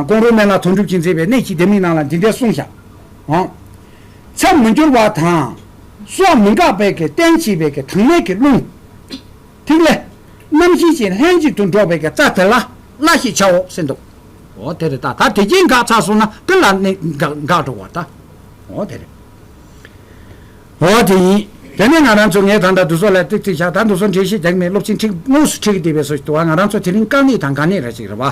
ཀོང་རོ་སྨན་ལ་དོན་གྲུབ་ཀྱིས་མཛེས་པའི་གནས་ཀྱི་ལྡེ་མིག་རྣམས་ལ་འདི་འདྲའི་གསུང་བྱ། མཚམས་མི་འགྱུར་བ་དང། སྲོག་མི་འགག་པའི་ཀྱི་རྟེན་བྱེད་པའི་ཀྱི་དངས་མའི་ཀྱི་རླུང། ཐིག་ལེ། རྣམ་བཞི་ཅན་ལྷན་ཅིག་ཏུ་འགྲོགས་པའི་ཀྱི་རྩ་དེ་ལ་བླ་ཞེས་བྱའོ། སེམས་དུ། འོ་དེ་རེ་ད་ད་དེ་ཀྱིས་འགག་ཚར་སོང་ན་ཀི་ལ་ནི་འགག་འགག་འགྲོ་བ་ད། འོ་དེ་རེ། འོ་དེ་ཡིན། དེ་ནས་ང་རང་ཚོ་ངས་ད་ད་འདུ་སོ་ལ་ཏིག་ཏིག་བྱ་ད་འདུ་སོ་འགྲེལ་བཤད་རྒྱག་མེད་སློབ་ཆེན་ཁྲིགས་དངོས་སུ་ཁྲིགས་བསྡད་པའི་སོ་ཞིག་འདུག་ང་རང་ཚོ་དེ་རིང་དཀའ་ངལ་དང་ག་ནས་ར་ཞིག་རེད་བ།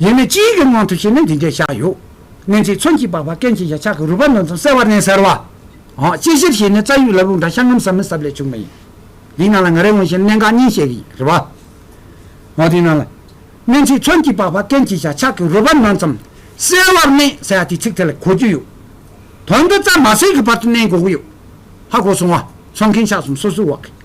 ཡེ་ནས་སྤྱིའི་གི་ངང་དུ་བྱས་ནས་འདི་འདྲའི་ཞག་ཡོད། གནས་མཆེད་མཚོན་གྱིས་སྦགས་པ་སྐེམ་བྱེད་ཞག་ཆག་གི་རུས་པ་འདོན་ཙམ་གསལ་བར་ནས་ཟེར་བ། དཔྱད་གཞིར་བྱས་ནས་རྩ་ཡུག་ལ་བུག་འདྲ་ཤ་ངམ་ཟ་མི་ཟབ་ལས་བྱུང་བ་ཡིན། འདིའི་ནང་ལ་ང་རེ་འོང་བཞིན་གནད་འགག་གཉིས་བཤད་གི་ཡིན། རེ་བ། འོ་དེའི་ནང་ལ། གནས་མཆེད་མཚོན་གྱིས་སྦགས་པ་སྐེམ་བྱེད་ཞག་ཆག་གི་རུས་པ་འདོན་ཙམ་གསལ་བར་ནས་ཟེར་བ་དེའི་ཚིག་ཐད་ལ་གོ་རྒྱུ་ཡོད། དོན་དུ་རྩ་མ་ཟེར་གི་བར་དུ་གནས་འགོག་གི་ཡོད། ཧ་གོ་སོང་བ། མཚོན་མཁན་ཞག་གསུམ་སོ་སོའི་བག་གི།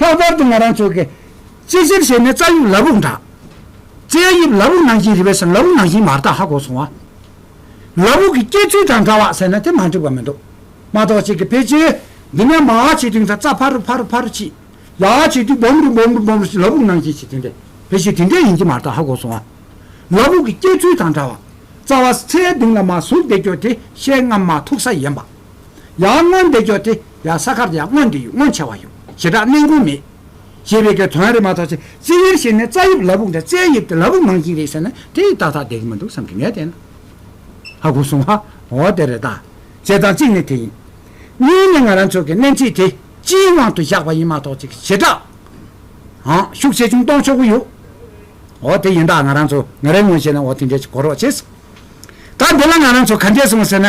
ལྷག་པར་དུ་ང་རང་ཚོ་གི་རྩེད་ཆས་བྱས་ནས་རྩྭ་དབྱིབས་ལ་བུག་འདྲ། རྩྭའི་དབྱིབས་ལ་བུག་ནང་བཞིན་རི་བའི་སེམས་ལ་བུག་ནང་བཞིན་མ་རྟགས་ཧ་གོ་སོང་བ། ལ་བུག་གི་སྐྱེ་ཚུལ་དང་འདྲ་བ་ཟེར་ན་དེ་མ་འགྲིག་པ་མི་འདུག་མ་གཏོགས་གཅིག་གི་ཕལ་ཆེར་འདི་ནས་མ་ཧ་བྱེད་དུས་ད་རྩྭ་ཕར་རུ་ཕར་རུ་ཕར་རུ་ཕྱིས། ཡ་ཧ་བྱེད་དུས་སྦོམ་རུ་སྦོམ་རུ་སྦོམ་རུ་ཕྱིས་ལ་བུག་ནང་བཞིན་བྱེད་དུས་འདི་ཕལ་ཆེར་དེ་འདྲས་ཡིན་གྱི་མ་རྟགས་ཧ་གོ་སོང་བ། ལ་བུག་གི་སྐྱེ་ཚུལ་དང་འདྲ་བ། རྩ་བ་རྩྭའི་གདིང་ལ་མ་ཟུག་བསྡད་སྐྱོ་དེ་ཤེལ་རྔམ་མ་ཐུག་ས་ཡིན་པ། ཡང་སྔོན་འདེགས་འཇོག་དེ་ཡང་ས་ཁར་ཡང་སྔོན་འདེགས་ཡུལ་སྔོན་ཆད་བ་ཡོད་ཞེ་དྲག་གནད་འགོ་མེད། ཞེས་པའི་གི་དོན་རེད་མ་གཏོགས་ཚེ་རྩི་ཡུལ་ཞིག་ནས་རྩ་དབྱིབས་ལ་བུག་འདྲ་རྩའི་དབྱིབས་དེ་ལ་བུག་མང་ཅིག་རེད་ཟེར་ན་དེ་ཡིས་ཏག་ཏག་འདེགས་ཀྱི་མི་འདུག་བསམ་གི་ངས་བལྟས་ན། ཧ་གོ་སོང་ཧ། འོ་དེ་རེད་ད། བྱས་ཙང་གཅིག་ནི་དེ་ཡིན། གཉིས་ནི་ང་རང་ཚོ་གི་སྣེ་འཁྲིད་དེ་སྤྱིའི་དབང་དུ་བཞག་པ་ཡིན་མ་གཏོགས་ཚིག་ཞེ་དྲག། ཨང། ཤུགས་ཆེ་ཆུང་གཏོང་ཆོག་གི་ཡོད། འོ་དེ་ཡིན་ད་ང་རང་ཚོ་ང་རེ་ངོ་བྱས་ན་འོ་དེ་འདྲས་ཀྱི་གོ་རོགས་བྱེད། ད་འདི་ལ་ང་རང་ཚོ་ག་འདྲས་སོང་ཟེར་ན།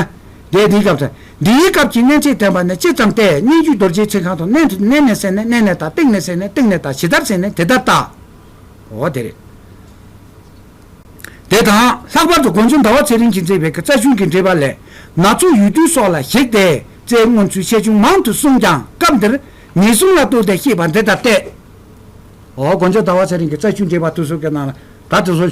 རྒྱའི་དེའི་སྐབས་དང་འདི་ཡི་སྐབས་ཀྱི་གནས་ཚད་བསྟན་པ་ནི་ཅི་ཙམ་སྟེ་སྙན་རྒྱུད་རྡོ་རྗེའི་ཚིག་གང་དུ་གནས་དུ་གནས་ནས་ཟེར་ནས་གནས་ནས་དང་སྟེང་ནས་ཟེར་ནས་སྟེང་ནས་དང་ཇི་ལྟར་ཟེར་ནས་དེ་ལྟར་བལྟ། འོ་དེ་རེད། དེ་དང་ལྷག་པར་དུ་དགོན་ཆུང་ཟླ་བ་ཚེ་རིང་གིས་མཛད་པའི་གི་རྩ་ཆུང་གི་འགྲེལ་པ་ལས་ནག་ཚོགས་ཡུལ་དུས་སོགས་ལ་གཞིགས་ཏེ་རྩའི་མངོན་ཚུལ་ཆེ་ཆུང་མང་དུ་གསུངས་ཀྱང་སྐབས་འདིར་ངེས་གསུམ་ལ་གཏུགས་ཏེ་ཤེས་པ་འདི་ལྟར་ཏེ། འོ་དགོན་ཆུང་ཟླ་བ་ཚེ་རིང་གི་རྩ་ཆུང་འགྲེལ་པ་དུས་སོགས་ཀྱི་ནང་ལ་ག་དུས་སུ།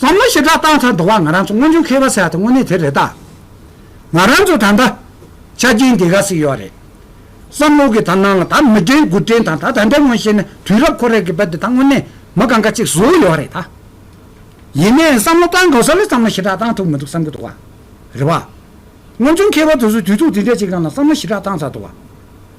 བསམ་བློ་ཞེ་དྲག་བཏང་ཚར་འདུག་བ་ང་རང་ཚོ་སྔོན་བྱུང་མཁས་པ་ཟེར་བ་དེ་དངོས་གནས་དེ་རེད་ད། ང་རང་ཚོ་ད་ལྟ། ཆ་རྐྱེན་དེ་ག་ཟིག་ཡོད་རེད། བསམ་བློ་གི་དར་ནང་ལ་ད་མི་དྲན་དགུ་དྲན་དང་ད་ད་འདྲ་ངོ་ཤེས་ན་དུས་རབས་ཁོ་རེ་གི་བ་དེ་ད་དངོས་གནས་མི་གང་ག་ཅིག་བཟོས་ཡོད་རེད་ད། ཡིན་ནའི་བསམ་བློ་བཏང་དགོས་ས་ལ་བསམ་བློ་ཞེ་དྲག་བཏང་ཐུབ་མི་འདུག་བསམ་གི་འདུག་བ། རེད་བ། སྔོན་བྱུང་མཁས་པ་དེ་ཚོ་དུས་ཚོགས་དེ་འདྲ་ཅིག་ནང་ལ་བསམ་བློ་ཞེ་དྲག་བཏང་ཚར་འདུག་བ།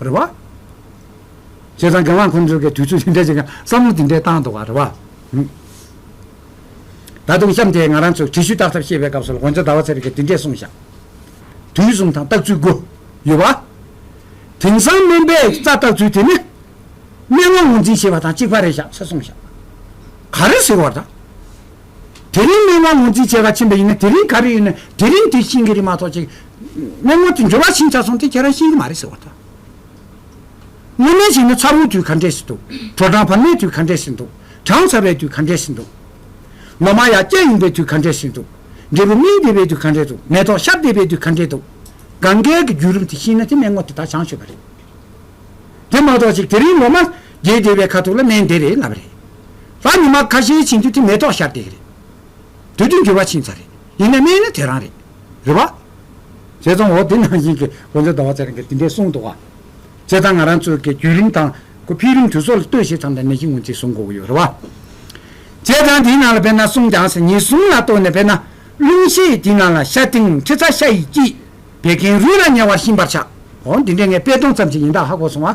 རེད་བ། བྱས་ཙང་རྒྱ་ནག་ཁོང་ཚོས་གི་དུས་ཚོད་དེ་འདྲས་ཀྱི་བསམ་བློ་དེ་འདྲས་བཏང་འདུག་བ་རེད་བ། ད་དུང་གཤམ་དེ་ང་རང་ཚོས་དྲི་ཞུ་བཏགས་ཐབས་ཤེས་པའི་སྐབས་སུ་ལ་དགོན་ཚོ་ཟླ་བ་ཚེ་རིང་གི་དེ་འདྲས་གསུངས་ཞག་དུས་གསུམ་ཐང་བཏགས་ཚུལ་དགུ་ཡོད་བ། དེང་སང་སྨན་པས་རྩ་བཏགས་ཚུལ་དེ་ནི། སྨན་བློ་ངོ་འཛིན་ཞེས་པ་དང་གཅིག་བ་རེད་ཞག་ཚེ་གསུངས་ཞག་ག་རེ་ཟེར་བ་དང། དེ་རིང་སྨན་དབང་ངོས་འཛིན་བྱེད་ག་ཕྱིན་པ་ཡིན་ན་དེ་རིང་ག་རེ་ཡིན་ན་དེ་རིང་དེ་ཤིན་གི་རེད་མ་ཐོག་ཅིག་སྨན་ངོ་དེ་འབྱོར་བ་ཤིན་བྱ་སོང་དེ་ཁྱེད་རང་ཤིན་གི་མ་རེད་ཟེར་བ་དང། སྔོ་སྨན་ཞིག་ན་ཚ་བོའི་དུས་ག་འདྲས་ཟིན་འདུག་དྲོ་གྲང་བར་མའི་དུས་ག་འདྲས་ཟིན་འདུག་གྲང་ཚ་བའི་དུས་ག་འདྲས་ཟིན་འདུག་ལོ་མ་ཡ་སྐྱ་ཡིན་པའི་དུས་ག་འདྲས་ཟིན་འདུག་འབྲས་བུ་སྨིན་བདེ་བའི་དུས་ག་འདྲས་འདུག་མེ་ཏོག་ཤར་བདེ་བའི་དུས་ག་འདྲས་འདུག་གངྒཱའི་རྒྱུད་རིམ་དེ་ཤིན་ན་དེ་སྨན་ངོ་དེ་ད་བྱང་ཆུབ་པ་རེད་དེ་མ་ཐོག་ཅིག་དེ་རིང་ལོ་མ། རྒྱས་བདེ་བའི་ཁ་ཐུག་ལ་སྨན་དེ་རེད་ལབ་རེད། ལྷ་མི་མ་ཁ་ཤས་བྱིན་དུས་དེ་མེ་ཏོག་ཤར་སྟེགས་རེད། དུས་དུས་འགྱུར་བ་ཕྱིན་ཚར་རེད་ཡིན་ན་སྨན་ནི་དེ་རང་རེད། རེད་བ། བྱས་ཙང་འོ་དེ་ནང་བཞིན་གྱི་དགོན་པའི་ཟླ་བ་ཚེ་རིང་གིས་དེ་འདྲས་གསུངས་འདུག་བ། བྱས་ཙང་ང་རང་ཚོའི་གི་བརྒྱུད་རིམ་དང་གི་འཕེལ་རིམ་དུས་ཚོགས་ལ་ལྟོས་ཤིག་ཙམ་ལ་ནད་གཞི་ངོ་མཚེས་བཟུང་དགོས་ཀྱི་ཡོད་རེད་བ། བྱས་ཙང་དེའི་ནང་ལ་དཔེར་ན་གསུངས་ཀྱང་ཟེར་ཉེས་གསུམ་ལ་ལྟོས་ནས་དཔེར་ན་རླུང་ཤེད་དེའི་ནང་ལ་ཤ་སྟེང་མཁྲིས་ཚ་ཤ་ཡི་སྐྱིད། བད་ཀན་རུས་ལ་ཉེ་བར་ཞིམ་པར་ཆགས། འོ་འདི་འདྲས་ངས་དཔེ་སྟོང་ཙམ་ཞིག་ཡིན་དག་ཧ་གོ་སོང་བ།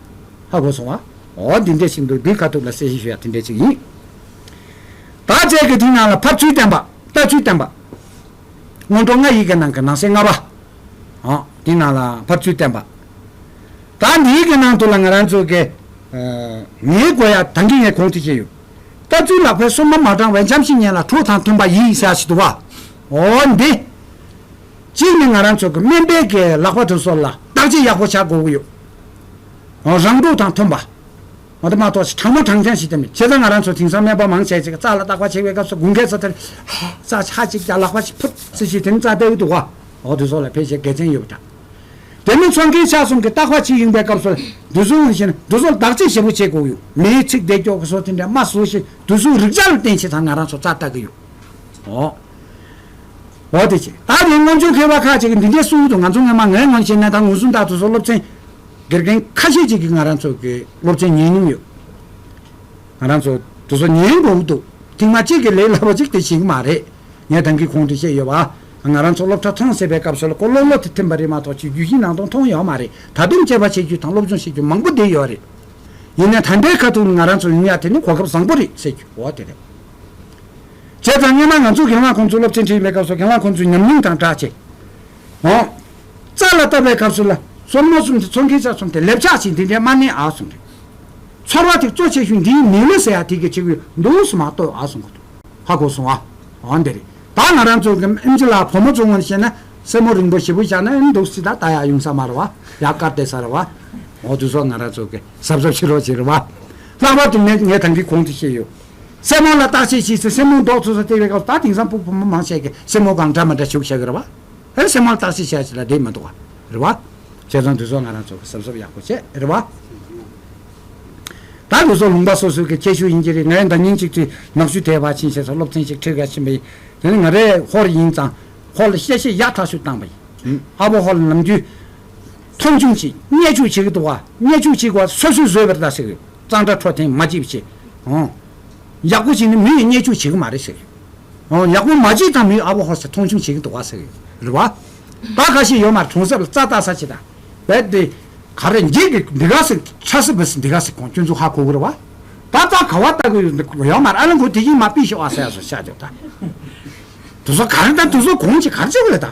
ཧ་གོ་སོང་ཨ། འོ་འདི་འདྲས་ཤིག་འདུག་འདི་ཁ་ཐུག་ལ་གསལ་བཤད་ཞུ་ཡག་དེ་འདྲས་ཅིག་ཡིན། བར་ཆད་ཀྱི་དེའི་ནང་ལ་ཕབ་ཚུལ་བསྟན་པ། ལྟ་ཚུལ་བསྟན་པ། སྔོན་འགྲོ་ལྔ་ཡི་གེ་ནང་གི་ནང་གསེས་ལྔ་པ། འོ་དེའི་ནང་ལ་ཕབ་ཚུལ་བསྟན་པ། ད་འདིའི་གི་ནང་དུ་ལ་ང་རང་ཚོ་གི། ངའི་དགོས་ཡ་ད་འདི་ངས་གོང་དུ་བཤད་ཡོད། ལྟ་ཚུལ་ལག་པའི་སོ་མ་མ་དྲང་བའི་འཇམ་ཞིང་ཉེ་ལ་ཁྲོ་དང་མཐུན་པ་ཡིས་ས་ཞིག་ཏུ་བ། འོ་འདི། གཅིག་ནི་ང་རང་ཚོ་གི་སྨན་པའི་གི་ལག་པ་དུ་སོར་ལ་བརྟག་དཔྱད་ཡག་པོ་བྱ་དགོས་ཀྱི་ཡོད། རང་སྒྲུག་དང་མཐུན་པ། མ་ཏོག་ཆེ་གྲང་མོ་གྲང་རྐྱང་ཞིག་བསྟེན་པས་བྱས་ཙང་ང་རང་ཚོ་དེང་སང་སྨན་པ་མང་ཆེ་གཅིག་རྩ་ལ་བརྟག་པ་བྱེད་པའི་སྐབས་སུ་དགུན་ཁའི་ཚ་དེར། རྩ་ཆག་ཅིག་བརྒྱག་ལག་པ་ཞིག་ཕུད་ཚེ་ཞིག་དེང་རྩ་བལྟས་འོས་འདུག་བ། འོག་དུས་སོགས་ལ་ཕལ་ཆེར་དགེ་མཚན་ཡོད་པ་འདྲ། དེ་མིན་ཚོང་མཁན་ཆ་གསུམ་གྱི་བརྟག་པ་ཇི་ཡིན་པའི་སྐབས་སུ་དུས་ཚོད་དབང་ཤེད་ན་འབྲུ་སོགས་བདག་གཅེས་ཞེ་པོ་བྱེད་དགོས་ཡོད་མེད་ཚིག་བདེ་སྐྱོག་གི་སོགས་དེ་འདྲའི་སྨྲ་བཟོ་ཞིག་དུས་ཚོད་རིག་བྱ་ལ་བརྟེན་བྱས་ཙང་ང་རང་ཚོ་རྩ་བལྟ་གི་ཡོད། འོ་དེ་ཅི། ད་ནི་སྔོན་བྱོན་མཁས་པ་ཁག་ཅིག་གིས་འདི་འདྲའི་གསུང་ཡུལ་དུ་ང་ཚོ་སྔོན་མ་ངའི་ངོ་ནས་བཤད་ན་ད་ངོས་བཟུང་དག་ཐུག་སོགས་སློབ་ཚན། དགེ་རྒན་ཁ་ཤས་ཅིག་གིས་ང་རང་ཚོ་དགེ་སློབ་ཚན་ཉན་མྱོང་ཡོད། ང་རང་ཚོ་དུ་སོ་ཉན་དགོས་འོ་འདུག་ཐེངས་མ་གཅིག་གིས་ལས་སླ་བོ་ཅིག་དེ་བྱེད་ཀྱི་མ་རེད། ངས་དེང་གི་གོང་དུ་བཤད་ཡོད་པ། ང་རང་ཚོ་སློབ་གྲྭ་ཐོངས་ཟེར་བའི་སྐབས་སུ་ལ་ཀོ་ལོ་ལོ་དེ་ཐིམ་པ་རེད་མ་གཏོགས་ཆོས་བརྒྱུད་གཞི་ནང་དུ་མཐོང་ཡོད་མ་རེད་ད་དུང་དཔྱད་པ་བྱེད་རྒྱུ་དང་སློབ་སྦྱོང་བྱེད་རྒྱུ་མང་པོ་བསྡད་ཡོད་རེད། ཡིན་ནས་ད་ལྟའི་ཁ་ཐུག་ནི་ང་རང་ཚོ་ཡུན་ཡག་དེ་ནི་གོ་སྐབས་བཟང་པོ་རེད་ཟེར་རྒྱུ་འོ་དེ་རེད། བྱས་ཙང་སྙན་མ་ང་ཚོས་གངས་ལྷ་ཁོང་ཚོའི་སློབ་ཆེན་ཁྲིད་ཡོད་པའི་སྐབས་སུ་གངས་ལྷ་ཁོང་ཚོའི་ཉམས་མྱོང་དང་སྦྲགས་ཆེད། ཧོ། རྩ་ལ་བཏབ་པའི་སྐབས་སུ་ལ་སོར་མོ་གསུམ་དེ་ཚོར་མཁན་ཆ་གསུམ་དེ་ལེབ་ཆགས་ཆེ་འདི་འདྲའི་དམར་ནན་ཨག་གསུམ་རེད། ཚོར་བ་ཐིག་ཙོ་ཆེ་ཤོས་འདིའི་མིང་ལོ་སེ་ཡ་ཐིག་གི་ཆེ་གུ་འདུག་སུ་མ་གཏོགས་ཨག་གསུམ་གོ་ཐུག་ཧ་གོ་སོང་ཨ། འོ་འདི་རེད་ད་ང་རང་ཚོ་གི་ཨིན་ཇི་ལ་བུ་མོ་ཚོའི་ངོ་ནས་བཤད་ན་སེར་མོ་རིང་པོ་ཞེ་བུ་ཞག་ན་ཨེ་འདུག་སྲིད་ད་ད་ཡག་ཡུང་ས་མ་རེད་བ་ཡག་དཀར་བལྟས་ས་རེད་བ། འོ་དུས་སོགས་ང་རང་ཚོ་གི་གཟབ་གཟབ་བྱེད་རོགས་བྱེད་རེད་བ། ལྷག་པར་དུ་ངས་ཐང་གིས་གོང་དུ་བཤད་ཡོད། སེན་མོ་ལ་བརྟག་དཔྱད་བྱས་ཚེ་སེན་མོའི་མདོག་ཚོད་ས་བལྟས་པའི་སྐབས་སུ་ད་དེང་སང་སྤུག་ཕོ་མོ་མང་ཆེ་གེ་སེན་མོ་གང་འདྲ་མི་འདྲ་བྱུག་བྱ་གི་རེད་བ། ཨེ་སེན་མོ་ལ་བརྟག་དཔྱད་བྱས་ཚེ་ལ་འདྲེས་མི་འདུག་བ། རེད་བ། ཁྱེད་རང་དུས་ཚོད་ང་རང་ཚོ་གི་སེམས་གསོ་ཡག་པོ་བྱས་རེད་བ། ད་ལུས་སྲོག་ལུང་པ་སོ་སོ་གི་ཁྱད་ཤུགས་ཡིན་གྱི་རེད་ངའི་འདང་ཉིན་གཅིག་ཁྲིད་ནག་ཆུ་ཐའི་བ་ཆིན་ཞེས་སོགས་སློབ་ཚན་ཞིག་ཁྲིད་ག་ཕྱིན་པ་ཡིན་དེ་ནི་ང་རེ་ཧོར་ཡིན་ཙང་ཧོར་ལ་གཤེ་གཤེ་ཡག་ཐག་ཤུགས་བཏང་བ་ཡིན་ཨ་བོ་ཧོར་ལ་ནམ་རྒྱུན་མཐོང་ཆུང་བྱེད་བརྙས་བཅུག་བྱེད་ཀྱི་འདུག་བ་བརྙས་བཅུག་བྱེད་ཀྱི་བ་སོ་སོའི་བཟོས་པའི་རྟགས་ཤིག་རེད་གཙང་སྦྲ་འཕྲོ་ཐེངས་མ་གཅིག་བྱས་ཨོང། ཡག་པོ་བྱས་ནས་མི་ཡིས་བརྙས་བཅུག་བྱེད་ཀྱི་མ་རེད་ཟེར་ཨོང་ཡག་པོ་མ་བྱས་ཙང་མི་ཡིས་ཨ་བོ་ཧོར་ས་མཐོང་ཆུང་བྱེད་ཀྱི་འདུག་བ་ཟེར་རེད་བ། བ་ཁ་ཤས་ཡོད་མ་རེད་གྲོང་གསེབ་ལ་རྩྭ་བཏགས་ས་ཆེ་ད་བས་དེ། ག་རེ་འགྱིག་གི་འདི་ག་ཟིག་ཁྲ་སི་བི་སི་འདི་ག་ཟིག་གོང་སྐྱོན་འཛུགས་ཧ་གོ་གི་རེད་བ། བ་རྩྭ་ག་བ་བཏགས་གི་ཡོད་འདུག་ཡོད་མ་རེད་ཨ་ལེ་འགོ་དེ་བཞིན་མ་སྤིས་ཤོག་ཨ་ཟེར་ཡ་ཟེར་བཤད་བྱོས་ད། དེ་ཚོ་ག་རེ་ད་དེ་ཚོ་གོང་ཆེ་ག་རེ་བྱེད་གི་རེད་ད།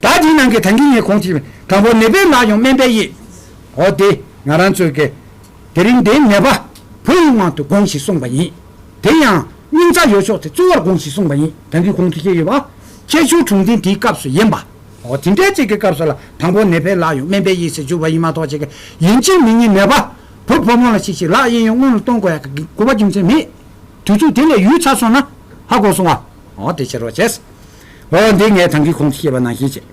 ད་དེའི་ནང་གི་དང་གི་ངས་གོང་ཅིག་དང་པོ་ནད་པའི་ལག་ཡང་སྨན་པའི་ཡིད། འོ་དེ་ང་རང་ཚོའི་གེ། དེ་རིང་འདིའི་ནད་པ། བུ་ཡིན་དབང་དུ་དགོངས་ཞེས་གསུངས་པ་ཡིན། དེ་ཡང། སྙིང་རྩ་ཡོད་ཕྱོགས་དེ་གཙོ་བོར་དགོངས་ཞེས་གསུངས་པ་ཡིན་དང་གི་གོང་དུ་བཤད་ཡོད་པ། ཁྱད་ཆོས་དྲུག་འཛིན་དེའི་སྐབས་སུ་ཡིན་པ། འོ་དེ་འདྲའི་ཅིག་གི་སྐབས་སུ་ལ་དང་པོ་ནད་པའི་ལག་ཡང་སྨན་པའི་ཡིད་ཟེར་གྱུར་པ་ཡིན་མ་གཏོགས་ཅིག་གི་ཡིན་གཅིག་མིན་གཉིས་ནད་པ། བུ་ཕོ་མོ་ལ་ཤིག་ཤིག་ལག་གཡས་གཡོན་སྔོན་ལ་གཏོང་དགོས་ཡག་གི་དགོས་པ་རྒྱུ་མཚན་མེད། དུས་ཚོད་དེ་ལས་ཡུལ་ཚར་སོང་ན། ཧ་གོ་སོང་བ། འོ་དེ་ཕྱིར་རོ་བྱས། ཨོ་འདི་ངས་དང་གི་ཁོང་ཚོས་སྐྱེས་པ་ནང་བཞིན་བྱེད།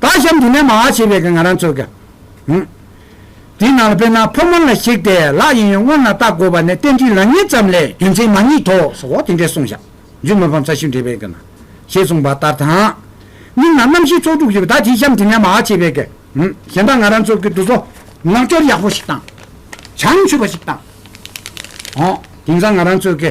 ད་གཤམ་དེ་ནས་མ་བ་བྱེད་པའི་ང་རང་ཚོ་ག་ཨུ། དེ་ནང་ལ་དཔེར་ན་ཕོ་མོ་ལ་ཞིག་དེ་ལག་ཡིན་ཡོད་སྔོན་ལ་བལྟ་དགོས་པ་ནས་བསྟན་འགྲིག་ལག་གཉིས་ཙམ་ལས་རྒྱུ་མཚན་མ་གཉིས་ཐོག་ཟོ་བ་དེ་འདྲས་གསུངས་བཞག་རྒྱུ་མི་ཕམ་ས་ཞིག་འབྲི་བའི་ག་ན་ཞེས་གསུངས་པ་ལྟར་དང། མིག་ནང་རྣམ་ཤེས་ཚོགས་དྲུག་བཞི་པོ་ད་དེ་གཤམ་དེ་ནས་མ་བ་བྱེད་པའི་ག་ཨུ་གཞན་དག་ང་རང་ཚོ་གི་འདུ་ཚོགས་ནག་སྐྱོར་ཡག་པོ་ཞིག་དང། བྱང་ཆུབ་པ་ཞིག་དང། ཨོ་དེང་སང་ང་རང་ཚོ་གི།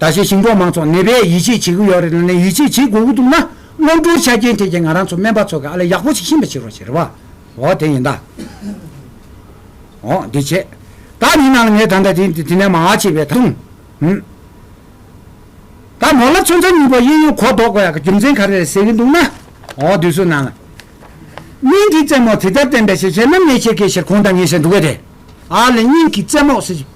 ད་ཆའི་ཞིང་འབྲོག་མང་ཚོགས་ནད་པས་ཡིད་ཆེས་བྱེད་ཀྱི་ཡོད་རེད་ལ་ནས་ཡིད་ཆེས་བྱེད་དགོས་ཀྱི་འདུག་ན་སློབ་གྲོགས་ཆ་རྐྱེན་ཐད་ཀྱི་ང་རང་ཚོ་སྨན་པ་ཚོ་གི་ཨ་ལས་ཡག་པོ་ཞིག་ཤེས་པ་བྱེད་རོགས་ཞེས་རེ་བ་འོ་དེ་ཡིན་ད་འོ་འདི་བྱས་ད་མི་ནང་ལ་ངས་ད་ད་དེ་དེ་ནས་མ་བྱས་པའི་ཐང་ཧུམ་ད་མོ་ལ་ཚོན་རྩ་གཉིས་པ་གཡས་གཡོན་གོ་ལྡོག་གོ་ཡག་གི་རྒྱུ་མཚན་ག་རེ་རེད་ཟེར་གྱི་འདུག་ན་འོ་དུས་ཚོད་ནང་ལ་སྙིང་གི་རྩེ་མོ་དེ་ལྟར་བསྟན་པས་ཞེས་བྱས་ན་ནས་ཆེ་གེ་ཞེས་གོང་ད་ངས་བཤད་འདུག་གས་དེ་ཨ་ལས་སྙིང་གི་རྩེ་མོ་ཟེར་གྱི།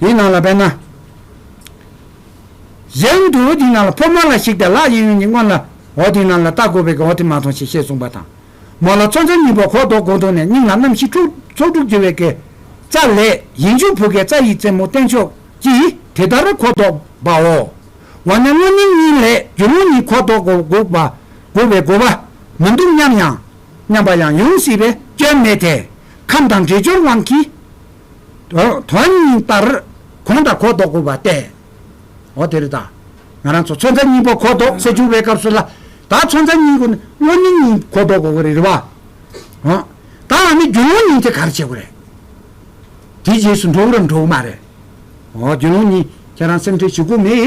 དེའི་ནང་ལ་དཔེར་ན། གཞན་དུ་འོ་དེའི་ནང་ལ་ཕོ་མོ་ལ་གཞིགས་ཏེ་ལག་གཡས་གཡོན་གྱི་སྔོན་ལ་འོ་དེའི་ནང་ལ་ལྟ་དགོས་པས་ཀྱང་འོ་དེ་མ་མཐོང་ཞེས་བཤད་གསུངས་པ་དང། མོ་ལ་ཚོགས་མཚམས་གཉིས་པ་གོ་བཟློག་སྒོ་འདོགས་ནས་སྙིང་ལ་རྣམ་བཞི་ཁྲུག་ཚོགས་དྲུག་བརྗེ་བའི་གེ་རྩ་ལས། ཡིན་འཇུག་བུ་གའི་རྩ་ཡི་རྩེ་མོ་བརྟན་ཕྱོགས་ཀྱིས་དེ་ལྟར་གོ་བཟློག་པའོ། འོ་ན་སྔོན་མིང་གཉིས་ལས་རྒྱུ་ལུང་གཉིས་གོ་བཟློག་གོ་དགོས་པའི་དགོས་པ་མི་འདུག་སྙམ་ཡང། སྙམ་པ་ཡང་ཡོང་སྲིད་པས་སྐྱོན་མེད་དེ། ཁམས་དང་འདྲེས་སྦྱོར་དབང་གིས། དོན་སྙིང་ལྟར་གོང་དང་གོ་བཟློག་དགོས་པ་སྟེ། འོ་དེ་རེད་ད། ང་རང་ཚོ་ཚོན་རྩ་གཉིས་པོ་གོ་བཟློག་སེ་འཇུག་པའི་སྐབས་སུ་ལ། ད་ཚོན་རྩ་གཉིས་གོ་ནས་སྔོན་སྙིང་གཉིས་གོ་བཟློག་དགོས་ཀྱི་རེད་རེད་བ། འོ། ད་ང་ནི་རྒྱུན་ལུང་གཉིས་དེ་གར་བྱེད་དགོས་རེད། དེའི་རྗེས་སུ་འགྲོ་འུ་རམ་འགྲོ་འུ་མ་རེད། འོ་རྒྱུན་ལུང་གཉིས་ཁྱེད་རང་སེམས་ཁྲལ་བྱེད་དགོས་མེད།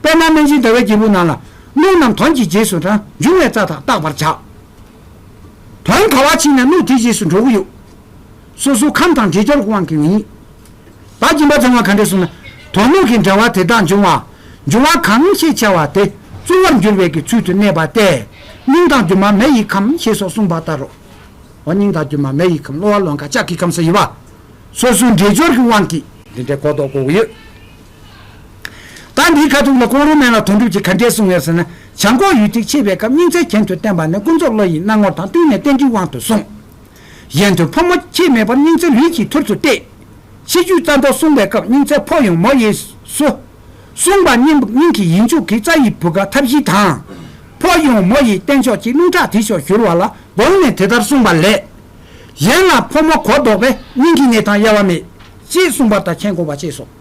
པདྨ་སྨན་སྦྱིན་ཟླ་བའི་སྒྱེད་པུ་ནང་ལ། རླུང་རྣམས་དོན་གྱི་རྗེས་སུ་འབྲང་འབྱུང་བའི་རྩ་དག་བརྟག་པར་བྱ། བོང་བ་བ་ཕྱིན་ན་གནུགས་དེའི་རྗེས་སུ་འགྲོ་གི་ཡོད། སོ་སོའི་ཁམས་དང་དྲིལ་སྦྱར་དབང་གིས་ཡིན། བ་གྱིན་པ་བརྫང་བ་ག་འདྲས་སོང་ན། དོག་མོ་གི་འདྲ་བ་དེ་དག་འབྱུང་བ། འབྱུང་བ་གང་ཞེས་བྱ་བ་དེ་ལྟུང་བར་འགྱུར་བའི་ཀྱི་ཚུལ་དུ་གནས་པ་སྟེ། སྙིང་དང་རྒྱུ་མ་མེ་ཡི་ཁམས་ཞེས་སོགས་གསུངས་པ་ལྟར་རོ། འོ་སྙིང་དང་རྒྱུ་མ་མེ་ཡི་ཁམས་གློ་བ་ལོང་ཀ་ལྕགས་ཀྱི་ཁམས་སུ་ཡི་བ། སོ་སོའི་འདྲེས་སྦྱོར་གྱི་དབང་གིས། འདི་འདྲའི་གོ་རྟོགས་གོ་གི་ཡོད། ད་འདིའི་ཁ་ཐུག་ལ་ཀོང་རོ་མན་ལ་དོན་གྲུབ་ཀྱིས་ག་འདྲས་གསུང་ངེས་ཟེར་ན། བྱང་ཁོག་ཡུལ་དུ་ཆས་པའི་སྐབས་སྙིང་ཚད་གྱེན་དུ་བསྟན་པ་ནི་ཀུན་རྫོབ་བློ་ཡི་སྣང་ངོར་དང་བསྟུན་ནས་བསྟན་འགྲིག་དབང་དུ་གསུངས། གཞན་དོན་ཕོ་མོ་ཁྱད་མེད་པར་སྙིང་ཚད་ལུས་ཀྱི་ཐུར་དུ་གཏད། ཕྱི་རྒྱུད་རྩ་མདོ་གསུངས་པའི་སྐབས་སྙིང་ཚད་ཕོ་ཡོང་མོ་གཡས་སུ། གསུངས་པ་སྙིང་གི་ཡིད་འཇུག་གི་རྩ་ཡི་བུ་ག་ཐབས་ཤེས་དང། ཕོ་ཡོང་མོ་ཡི་བསྟན་ཕྱོགས་ཀྱི་རླུང་ཁྲག་དེ་ཕྱོགས་བཞུར་བ་ལ་དགོངས་ནས་དེ་ལྟར་གསུངས་པ་ལས། གཞན་ལ་ཕོ་མོ་གོ་བཟློག་པས་སྙིང་གི་ནད་དང་དབྱེ་བ་མེད། ཅེས་གསུངས་པར་ད་ཁྱེད་གོ་བ་བཅས་སོ།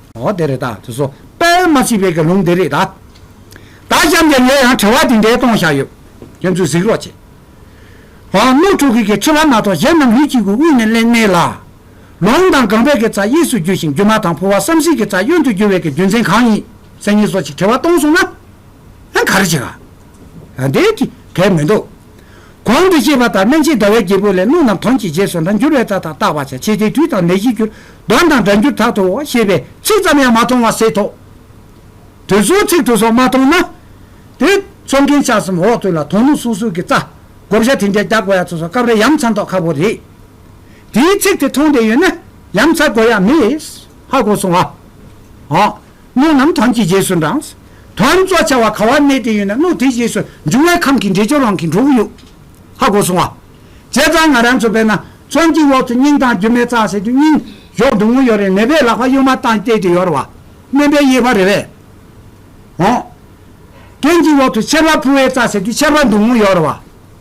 འོ་དེ་རེད་ད་དེ་སོ་དཔལ་མ་ཅི་བས་དགེ་སློང་དེ་རེད་ད། ད་ཅམ་དེ་ལས་ཡང་དྲི་བ་འདི་འདྲའི་སྟོང་བཞག་ཡོད། ཁྱོད་ཚོས་གཟིགས་རོགས་བྱེད། ཨོ་དམུ་ཕྲུག་གིས་གིས་ཁྲི་བ་མ་ཐོག་གཞན་རྣམས་ལུས་གཅིག་གི་དབུས་ནས་གླེང་མེད་ལ། ལོང་དང་སྒང་པད་ཀྱི་རྩ་གཡས་སུ་རྒྱུ་ཞིང་རྒྱུ་མ་དང་ཕུར་བ་བསམ་གཟིགས་ཀྱི་རྩ་གཡོན་དུ་རྒྱུ་བས་ཀྱི་རྒྱུ་མཚན་གང་ཡིན་སེམས་ངེས་སོ་ཅིག་དྲི་བ་སྟོང་སོང་ན། ཨ་ག་རེ་བྱེད། ཨ་དེ་ཅི་གལ་མི་འདུག། གོང་དུ་བཤད་པ་ལྟར་སྨན་ཕྱིས་ཟླ་བའི་རྒྱལ་པོ་ལས་རླུང་རྣམས་དོན་གྱི་རྗེས་སུ་འདྲ་འགྱུར་བས་རྟགས་དང་བརྟག་པར་བྱ་བྱེད་དེ་དུས་དང་ནད་གཞི་འགྱུར་གདོན་དང་འདྲ་འགྱུར་དག་ཏུ་ཤེས་པས་ཚིག་ཙམ་ཡང་མ་མཐོང་བ་སེལ་ཐོག་དུས་གསུང་ཚིག་ཏུ་སོགས་མ་མཐོང་ན། དེ་ཚོགས་མཁན་ཆགས་གསུམ་འོག་ཏུ་ལ་དོང་ལུང་སོ་སོ་གི་རྩ། བགོ་བཤའ་དེ་འདྲའི་རྒྱག་དགོས་ཡ་ཚོ་སོགས་སྐབས་རེ་ཡམ་ཚ་མདོག་ཁ་བོ་རེད། དེའི་ཚིག་དེ་མཐོང་བསྡད་ཡོད་ན་ཡམ་ཚ་དགོས་ཡ་མེད། ཧ་གོ་སོང་ཨ། སྣོད་རྣམས་དོན་གྱི་རྗེས་སུ་འབྲངས། དོན་གཙོ་བྱ་བ་གང་བར་གནས་དེ་ཡོད་ན་སྣོད་དེའི་རྗེས་སུ་འབྱུང་བའི་ཁམས་ཀྱི་འདྲེས་སྦྱོར་རང་གི་འགྲོ་བུ་ཡུག། ཧ་གོ་སོང་བ། བྱས་ཙང་ང་རང་ཚོ་བས་ན་ཚོན་གྱི་འོག་ཏུ་སྙིང་དང་རྒྱུ་མའི་རྩ་ཟེར་དུས་སྙིང། གཞོགས་བདུན་མོ་ཡོད་རེད་ནད་པས་ལག་པ་གཡོན་མ་བཏང་སྟེ་དེ་ཡོར་བ། སྨན་པའི་དབྱེ་བ་རེ་བས། འོང། གྱེན་གྱི་འོག་ཏུ་ཆར་བ་འཕུར་བའི་རྩ་ཟེར་དུས་ཆར་བ་བདུན་མོ་ཡོར་བ།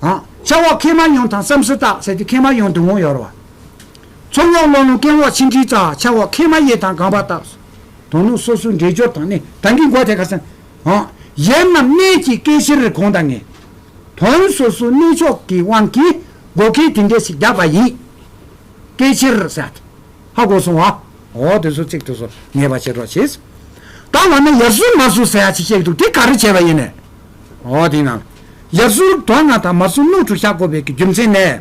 འོང། ཆར་འོག་མཁལ་མ་ཡོངས་དང་བསམ་སྲི་རྟགས་ཟེར་དུས་མཁལ་མ་ཡོངས་བདུན་མོ་ཡོར་བ། ཚོམ་འོག་གློ་ལུང་སྐེམ་འོག་མཆིན་མཁྲིས་རྩ་ཆར་འོག་མཁལ་མ་གཡས་དང་སྒང་པ་རྟགས། དོ་ནུབ་སོ་སོའི་འདྲེས་སྦྱོར་དང། དང་གི་འགོ་དེ་ག་ས། གཞན་རྣམས་གནས་ཀྱི་སྐད་ཕྱིར་གོང་དང་ངེས། དོན་སོ་སོའི་གནས་མཆོག་གི་དབང་གིས། བགོ་སྐལ་དེ་འདྲས་ཤིག་བརྒྱག་པ་ཡིན། སྐད་ཕྱིར་སད། ཧ་གོ་སོང་བ། འོ་དེ་སོ་ཚིག་དེ་སོ་ངེས་པ་བྱེད་རོགས་གྱིས། ད་འོ་ན་ཡར་ཟུར་མར་ཟུར་ཟེར་ཡག་ཅིག་བཤད་ཀྱི་འདུག་དེ་ག་རེ་བྱས་པ་ཡིན། འོ་དེ་ན། ཡར་ཟུར་དོན་ལྔ་དང་མར་ཟུར་སྣོད་དྲུག་བཞག་གོ་བས་ཀྱི་རྒྱུ་མཚན་ནི།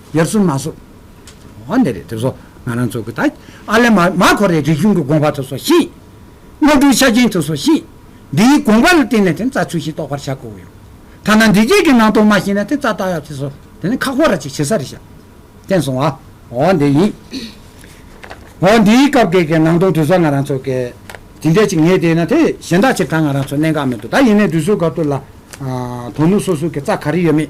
ཡར་སུ་མ་སུ། ཨོ་ནེ་རེ་ཐེབས་སོ། ང་རང་ཚོ་གི་ད་ཨ་ལེ་མ་མ་ཁོ་རེ་རིག་གཞུང་གི་དགོངས་པ་ཐོས་སོ་ཤིག། དངོས་གྲུབ་ཆ་རྐྱེན་ཐོས་སོ་ཤིག། འདིའི་དགོངས་པ་ལ་བརྟེན་ནས་དེ་རྩ་ཚུལ་ཞིག་རྟོགས་པར་བྱ་དགོས་ཡོད། ཐ་ན་འདི་བརྒྱད་ཀྱི་ནང་དོན་མ་ཤེས་ན་དེ་རྩ་བརྟག་ཡག་བྱེད་སོ། དེ་ནས་ཁག་པོ་ར་ཅིག་བྱེད་ས་རེ་བྱ། བསྟན་སོང་ཨ། ཨོ་འདི་ཡིན། ཨོ་འདིའི་སྐབས་འགལ་གྱི་ནང་དོན་དུས་སོགས་ང་རང་ཚོ་གི། དེ་འདྲ་ཅིག་ངེས་བསྡད་ན་དེ་གཞན་དག་ཕྱིར་འཐག་ང་རང་ཚོ་གནད་འགག་མི་འདུག་ད་ཡིན་ནའི་དུས་ཚོད་འགར་དུ་ལ། དོ་ནུབ་སོ་སོ་གི་རྩ་ག་རེ་ཡོད་མེད།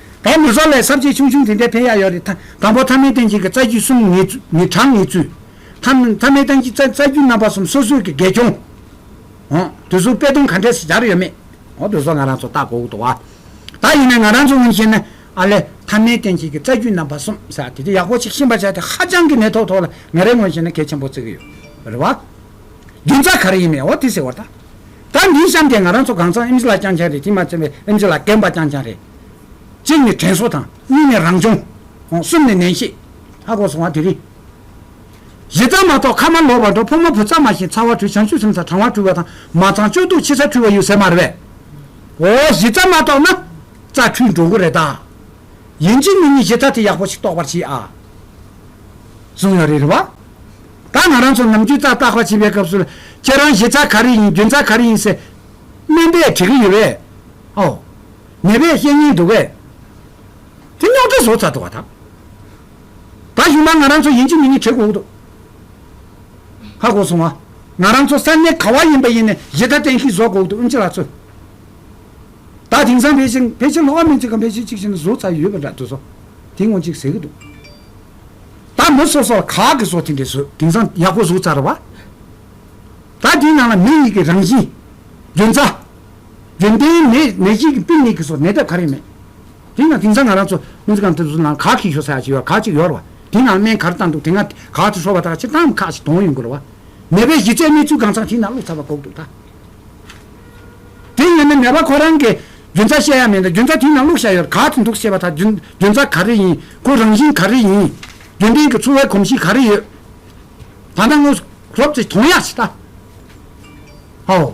བ་མི་བཟོ་ལས་ཟབ་ཆེ་ཆུང་ཆུང་དེ་འདྲའི་ཕན་ཡག་ཡོད་རེད་ད་དང་པོ་ཐ་མའི་སྟེང་གཅིག་གི་རྩ་རྒྱུད་གསུམ་ངེས་ངེས་གྲངས་ངེས་ཚུལ། ཐ་ཐ་མའི་སྟེང་གཅིག་རྩ་རྒྱུད་རྣམ་པ་གསུམ་སོ་སོའི་གི་དགེ་སྐྱོང། འོ། དུས་གསུམ་དཔེ་སྡོམ་ག་འདྲས་སུ་སྦྱར་ཡོད་མེད། འོ་དུས་གསུམ་ང་རང་ཚོ་ལྟ་དགོས་ཀྱི་འདུག་བ། ད་ཡིན་ན་ང་རང་ཚོ་སྔོན་བཤད་ན་ཨ་ལས་ཐ་མའི་སྟེང་གཅིག་གི་རྩ་རྒྱུད་རྣམ་པ་གསུམ་ཟེར་བ་དེ་དེ་ཡག་པོ་ཆིག་ཤེས་པ་བྱས་ཏེ་ཧ་ཅང་གི་ནད་ཐོག་ཐོག་ལ་ངས་རེ་སྔོན་བཤད་ན་གལ་ཆེན་པོ་བརྩི་གི་ཡོད་རེད་བ། རྒྱུ་མཚན་ག་རེ་ཡིན་མེད་འོ་དེ་ཟེར་བ་ད། ད་འདིའི་གཤམ་དེ་ང་རང་ཚོ་གངས་ཚང་ཨིམ་ཇི་ལགས་རྐྱང་རྐྱང་རེད་དེ་མ་ཚད་པའི་ཨིམ་ཇི་ལགས་རྒན་པ་རྐྱང་རྐྱང་རེད། གཅིག་ནི་དྲན་གསོ་དང་གཉིས་ནི་རང་སྦྱོང། གསུམ་ནི་ནན་བཤད། ཨ་གོ་སོང་བ་དེ་རིང། གཞི་རྩ་མ་གཏོགས་ཁ་མ་ལོག་པར་འགྲོ་ཕོ་མོ་བུ་ཚ་མ་ཞིང་ཚ་བ་དྲུད་བྱང་ཆུ་སིམ་ཚ་གྲང་བ་དྲུད་བ་དང་མ་གཙང་སྤྱོད་སྡུག་འཆི་ཚ་དྲུད་བ་ཡོད་ཟེར་མ་རེད་པས། འོ་གཞི་རྩ་མ་གཏོགས་ན་རྩ་འཁྲུལ་འགྲོ་གི་རེད་ད། ཡིན་གཅིག་མིན་གཉིས་གཞི་རྩ་དེ་ཡག་པོ་ཞིག་རྟོགས་པར་བྱེད་ཨ། བཟུང་ཡོད་རེད་རེད་བ། ད་ང་རང་ཚོ་ནམ་རྒྱུན་རྩ་བརྟག་པ་བྱེད་པའི་སྐབས་སུ་ལ་ཁྱེད་རང་གཞི་རྩ་ག་རེ་ཡིན་རྒྱུན་རྩ་ག་རེ་ཡིན་ཟེར། སྨན་པས་དྲི་གི་ཡོད་རེད། ཨོ། ནད་པའི་བཤེས་གཉེན་འདུག་གས། དེ་རྙོག་དྲ་བཟོ་ཚར་འགྲོ་བ་དང། ད་གཞུག་ན་ང་རང་ཚོ་ཡིན་གཅིག་མིན་གཉིས་བྱེད་དགོས་འོག་ཏུ། ཧ་གོ་སོང་ཨ། ང་རང་ཚོ་ས་གནས་ག་བ་ཡིན་པ་ཡིན་ནས་གཞི་བདག་བསྟན་ཤིག་བཟོ་དགོས་འོག་ཏུ་ཨུན་ཅི་ལགས་ཚོས། ད་དེང་སང་ཕལ་ཆེར་ཕལ་ཆེར་ལྷོ་ཁ་མིན་ཚིག་གམ་ཕལ་ཆེར་གཅིག་བྱས་ན་བཟོ་ཚར་ཡོད་པ་འདྲ་འདུག་བཟོ་དེ་སྔོན་གཅིག་ཟེར་གི་འདུག་ད་མི་སོ་སོ་ལ་ག་གི་བཟོ་དེ་འདྲས་བཟོ་དེང་སང་ཡག་པོ་བཟོ་ཚར་བ། ད་དེའི་ནང་ལ་མི་ཡིག་གི་རང་བཞིན། རྒྱུན་རྩ། རྒྱུན་ལྡན་ནད་གཞིའི་ཀྱི་དཔུང་ནད་ཀྱི་སོགས་ནད་ཐབས་ག་རེ་མེད། དེས་ན་དེང་སང་ང་རང་ཚོ་སྨན་རྩིས་ཁང་དུ་སུ་ལའང་གག་གིས་ཞོ་ས་ཡ་གཅིག་ཡོད་གག་གཅིག་ཡོད་རེད་བ། དེ་ཡང་སྨན་ག་རེ་བཏང་འདུག་དེ་སྔ་གག་དེ་ཧྲོལ་བ་དག་ཕྱིར་བཏང་མི་ཁག་ཅིག་དོང་ཡོད་འགོ་རེད་བ། ནད་པའི་གཞི་རྩའི་གནས་ཚུལ་གང་ཚང་ཞིག་ན་བླུགས་ཚར་བ་འགོག་འདུག་ད། དེ་ཡིན་ན་ནད་པ་ཁོ་རང་གི་རྒྱུན་རྩ་བཤད་ཡ་མེད་འདུག་རྒྱུན་རྩ་དེ་ན་བླུགས་བཞག་ཡོད་གག་དེ་འདུག་ཞེས་བ་དག་རྒྱུན་རྩ་ག་རེ་ཡིན་ཁོ་རང་བཞིན་ག་རེ་ཡིན། རྒྱུན་ལྡན་གྱི་འཚོ་བའི་གོམས་གཤིས་ག་རེ་ཡོད། ད་ནངས་སློབ་ཚེ་དོང་ཡ་ཞིག་ད། ཧོ།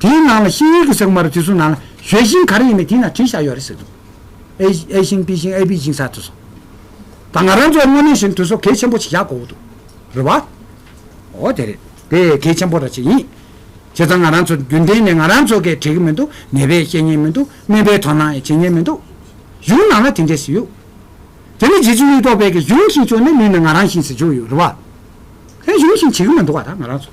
དེའི་ནང་ལ་ཤིང་ཡིག་གི་ཟེགས་མ་རུ་དེ་ཚོའི་ནང་ལ་ཞོལ་ཤིང་ག་རེ་ཡིན་པའི་དེའི་ནང་བྲིས་བཞག་ཡོད་རེད་ཟེར་འདུག་ཨེ་ཨེ་ཤིང་པི་ཤིང་ཨེ་པི་ཤིང་ས་དེ་ཚོ་དང་ང་རང་ཚོ་དངོས་གནས་བཤད་ན་དེ་ཚོ་གལ་ཆེན་པོ་ཞིག་བཞག་དགོས་འདུག་རེད་བ། ཨོ་དེ་རེད་དེ་གལ་ཆེན་པོ་ར་ཅིག་ཡིན། བྱས་ཙང་ང་རང་ཚོ་རྒྱུན་ལྡན་ནས་ང་རང་ཚོ་གས་བྲིས་ཀྱི་མི་འདུག་ནད་པས་བཤད་ཉན་མི་འདུག་སྨན་པས་དོ་སྣང་ཡང་བྱེད་ཉན་མི་འདུག་གཞུང་ནང་ལ་དེ་འདྲའི་ཟེར་ཡོད། དེ་ནི་རྗེ་བཙུན་གཡུ་ཐོག་དཔལ་གྱི་གཞུང་བཞིན་བྱུང་ནས་ལུས་ནི་ང་རང་བཞིན་ཟེར་བྱུང་ཡོད་རེད་བ། དེ་གཞུང་བཞིན་བྱེད་ཀྱི་མི་འདུག་བ་ད་ང་རང་ཚོ།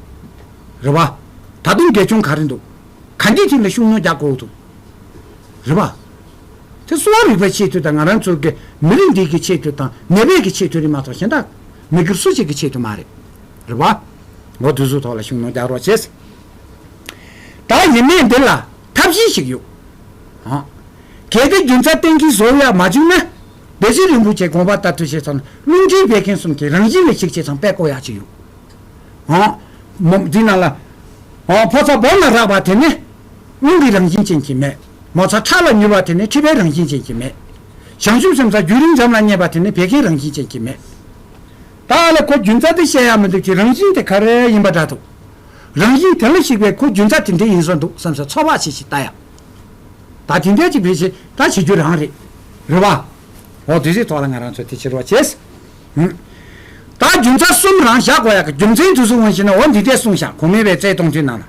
རེད་བ། ད་དུང་འགལ་འཁྱོངས་ག་རེ་འདུག་ག་འདི་ཐིག་ལ་ཤུགས་སྣོན་རྒྱག་དགོས་འདུག་རེད་བ། དེ་གསོ་བ་རིག་པའི་ཆེས་མཐོའི་དང་ང་རང་ཚོའི་གི་མི་རིགས་འདི་གི་ཆེས་མཐོའི་དང་ནད་པའི་གི་ཆེས་མཐོའི་རིགས་མ་གཏོགས་གཞན་དག་མི་སྒེར་སུ་གཅིག་གི་ཆེས་མཐོའི་མ་རེད། རེད་བ། འོ་དུས་ཚོད་ཐོག་ལ་ཤུགས་སྣོན་རྒྱག་རོགས་བྱེད། ད་ཡིན་ནའི་འདི་ལ་ཐབས་གཞི་ཞིག་ཡོད། ཧ། གལ་ཏེ་རྒྱུ་མཚན་གཏན་འཁེལ་བཟོ་ཡག་མ་བྱུང་ན། བདེ་ཆེན་རིན་པོ་ཆེ་དགོངས་པ་ལྟར་འཁྲུལ་བཤད་ཚང་རླུང་འཕྲིན་སྤེལ་མཁན་གསུམ་གྱི་རང་བཞིན་ལས་ཕྱིར་ཆད་ཚང་པད་བསྐོ་ཡག་ཅིག་ཡོད། འདི་ན་ལ། ཕོ་ཚ་སྦོམ་ལ་རགས་པ་དེ་ནི། རླུང་གི་རང་བཞིན་ཅན་གྱི་མེ། མོ་ཚ་ཁྲག་ལ་མྱུར་བ་དེ་ནི་མཁྲིས་པའི་རང་བཞིན་ཅན་གྱི་མེ། བྱང་ཆུབ་སེམས་ཚ་རྒྱུན་རིང་འཇམ་ལ་མཉེས་པ་དེ་ནི་བད་ཀན་རང་བཞིན་ཅན་གྱི་མེ། ད་ལ་ཁོ་རྒྱུན་རྩ་དེ་བཤད་ཡག་མི་འདུག་ཅི་རང་བཞིན་དེ་ག་རེ་ཡིན་པ་འདྲ་འདུག། རང་བཞིན་དེ་ལ་ཞིག་པའི་ཁོ་རྒྱུན་རྩ་དེ་འདྲས་ཡིན་བཟོ་འདུག་བསམ་ས་ཚོར་བ་ཞིག་ཞིག་ལྟ་ཡག། ད་དེ་འདྲས་ཅིག་བེད་ཤེས་ད་བྱེད་རྒྱུ་རང་རེད། རེད་བ། འོ་དུས་ཚོད་ཐོག་ལ་ང་རང་ཚོ་དེ་ཕྱིར་རོགས་བྱེད། ད་རྒྱུ་མཚན་གསུམ་རང་བཞག་གོ་ཡག་གི་རྒྱུ་མཚན་དུས་སུ་དབང་བཞི་ན་འོ་འདི་ལྟའི་གསུང་བཞག་གོ་མེད་པའི་རྩལ་སྟོང་དུས་ན་ལ།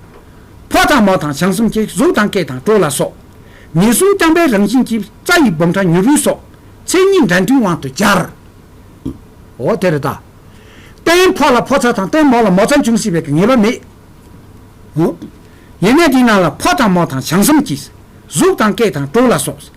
ཕོ་དང་མོ་དང་བྱང་སེམས་ཀྱི་གཟུགས་དང་སྐད་དང་བྲོ་ལ་སོགས། ཉེས་གསུམ་རྐྱང་པའི་རང་བཞིན་གྱི་རྩ་ཡི་སྦོམ་ཕྲ་མྱུར་བུལ་སོགས། མཚན་ཉིད་འདྲ་མཐུན་དབང་དུ་སྦྱར། འོ་དེ་རུ་ད། སྟེང་ཕོ་ལ་ཕོ་ཚ་དང་སྟེང་མོ་ལ་མོ་ཚ་འབྱུང་སྲིད་པའི་གི་ངེས་པ་མེད། ཡེ་ནས་འདི་ན་ལ་ཕོ་དང་མོ་དང་བྱང་སེམས་ཀྱི། གཟུགས་དང་སྐད་དང་བྲོ་ལ་སོགས།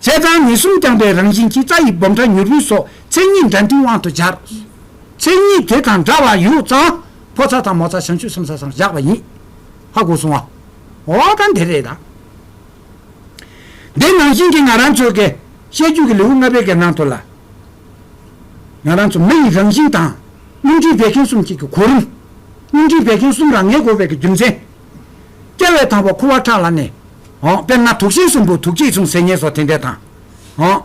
བྱས་ཙང་ནད་གསུམ་རྐྱང་པའི་རང་བཞིན་གྱིས་རྩ་ཡི་སྦོམ་ཕྲ་མྱུར་བུལ་སོགས་མཚན་ཉིད་འདྲ་མཐུན་དབང་དུ་སྦྱར། མཚན་ཉིད་དེ་དང་འདྲ་བ་ཡོད་ཙང་ཕོ་ཚ་དང་མོ་ཚ་བྱང་ཆུབ་སེམས་ཚ་ཚང་བཞག་པ་ཡིན། ཧ་གོ་སོང་ཨ། འོ་ད་འདི་རེད་ད། འདི་ནང་བཞིན་གྱི་ང་རང་ཚོའི་གེ། བཤད་རྒྱུད་ཀྱི་ལེའུ་ལྔ་པའི་གེ་ནང་དུ་ལ། ང་རང་ཚོ་མི་ཡི་རང་བཞིན་དང། སྙིང་རྗེའི་བད་ཀན་གསུམ་གཅིག་གི་གོ་རིམ། སྙིང་རྗེའི་བད་ཀན་གསུམ་རང་ངེས་གོ་བད་ཀྱི་རྒྱུ་མཚན། སྐྱེ་བའི་དང་པོ་ཁུ་བ་ཁྲག་ལ་གནས། དཔེར་ན་དུག་ཤིང་གསུམ་པོ་དུག་གཅིག་མཚུངས་ཟེར་ཉེས་སོགས་དེ་འདྲས་དང།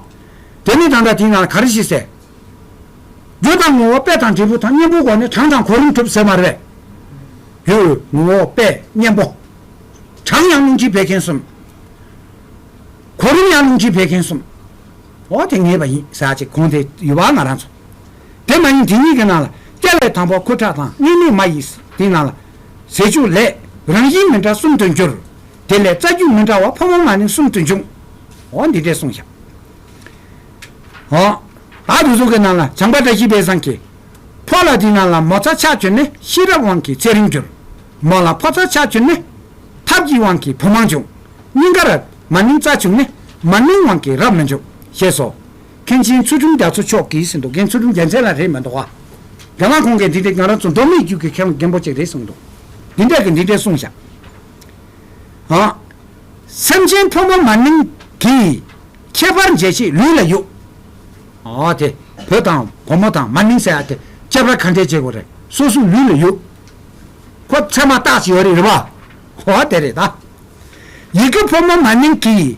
དེ་ནི་དང་འདྲ་དེའི་ནང་ལ་ག་རེ་ཞིག་ཟེར། རྒྱུ་དང་ངོ་བོ་དཔེ་དང་འབྲས་བུ་དང་གཉེན་པོའི་སྒོ་ནས་གྲངས་དང་གོ་རིམ་གྲུབ་ཟེར་མ་རེད། རྒྱུ། ངོ་བོ། དཔེ། གཉེན་པོ། གྲངས་ཡང་རླུང་འཁྱིལ་བད་ཀན་གསུམ། གོ་རིམ་ཡང་རླུང་འཁྱིལ་བད་ཀན་གསུམ། འོ་དེ་ངེས་པ་ཡིན་ཟེར་བ་ཅིག་གོང་དེ་ཡོད་པ་ང་རང་ཚོ། དེ་མ་ཡིན་དེ་གཉིས་ཀྱི་ནང་ལ་སྐྱ་ལས་དང་པོ་ཁུ་ཁྲག་དང་སྙིང་མེད་མ་ཡིས་དེའི་ནང་ལ། ཟས་བཅུད་ལས། རང་བཞིན་མི་འདྲ་གསུམ་དུ་འགྱུར། དེ་ལས་རྩ་རྒྱུད་མི་འདྲ་བ་ཕོ་མོ་མ་ནི་གསུམ་དུ་འབྱུང། འོ་འདི་འདྲས་གསུངས་བཞག། འོ། བདག་རུ་གཟུགས་ཀྱི་ནང་ལ་བྱང་པ་བཀྲ་ཤིས་དཔལ་བཟང་གིས། ཕོ་ལ་དེའི་ནང་ལ་མོ་རྩ་ཆགས་གྱུར་ནས་ཤེས་རབ་དབང་གིས་ཚེ་རིང་འགྱུར། མོ་ལ་ཕོ་རྩ་ཆགས་གྱུར་ནས། ཐབས་ཀྱི་དབང་གིས་བུ་མང་འབྱུང། སྙིང་ག་རབ། མ་ནིང་རྩ་བྱུང་ནས། མ་ནིང་དབང་གིས་རབ་མི་འབྱུང། ཞེས་སོ། མཁན་ཆེན་ཚུལ་ཁྲིམས་རྒྱ་མཚོ་མཆོག་གིས་ཟིན་འདུག་མཁན་ཚུལ་ཁྲིམས་རྒྱལ་མཚན་ལ་རེད་མི་འདུག་ག། རྒྱ་ནག་ཁོང་གིས་འདི་འདྲའི་ང་རང་ཚོ་མདོ་སྨད་རྒྱུད་ཀྱི་མཁས་དབང་རྒན་པོ་གཅིག་རེད་གསུངས་འདུག་འདི་འདྲས་ཀྱི་འདི་འདྲས་གསུངས་བཞག་ཨ། སེམས་ཅན་ཕོ་མོ་མ་ནིང་གིས་ཁྱད་པར་འབྱེད་ཆེད་ལུས་ལ་ཡོད་ཨ་དེ་བུ་དང་བུ་མོ་དང་མ་ནིང་ཟེར་ཡ་དེ་ཁྱད་པར་ག་འདྲས་འབྱེད་དགོས་རེད་སོ་སོའི་ལུས་ལ་ཡོད་ཁོ་ཚད་མ་བརྟག་ཅིག་ཡོད་རེད་རེད་པ་ཨོ་དེ་རེད་ད། ཡི་གེ་ཕོ་མོ་མ་ནིང་གིས།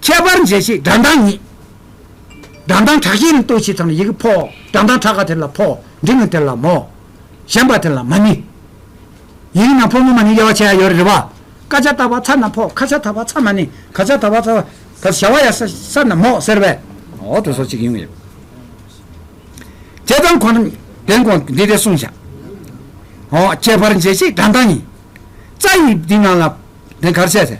ཁྱད་པར་འཇལ་བྱེད་སྒྲ་མདངས་ཉིད། སྒྲ་མདངས་གྲགས་ཤེས་རིང་ལྟོས་བྱེད་དང་ཡི་གེ་ཕོ། སྒྲ་མདངས་གྲགས་ཀ་དེ་ལ་ཕོ། འབྲིང་ངུ་དེ་ལ་མོ། ཞན་པ་དེ་ལ་མ་ནི། ཡི་གེ་ནང་ཕོ་ངུ་མ་ནི་དབྱེ་བ་ཕྱེ་ཡ་ཡོད་རེད་བ། ཀ་ཆ་ད་བ་ཚ་ན་ཕོ་ཁ་ཆ་ད་བ་ཚ་མ་ནི་ག་ཆ་ད་བ་ཚ། བར་བྱ་བ་ཡ་ས་ས་ན་མོ་ཟེར་བས། འོག་ཏུ་སོ་གཅིག་ཡིན་ངེས། དེ་དང་གོ། དེང་གོ་འདི་དེ་གསུངས་བྱ། འོག་ཁྱད་པར་འཇལ་བྱེད་སྒྲ་མདངས་ཉིད། རྩ་ཡི་འདི་ནང་ལ་དེ་གར་བྱས་ཚེ།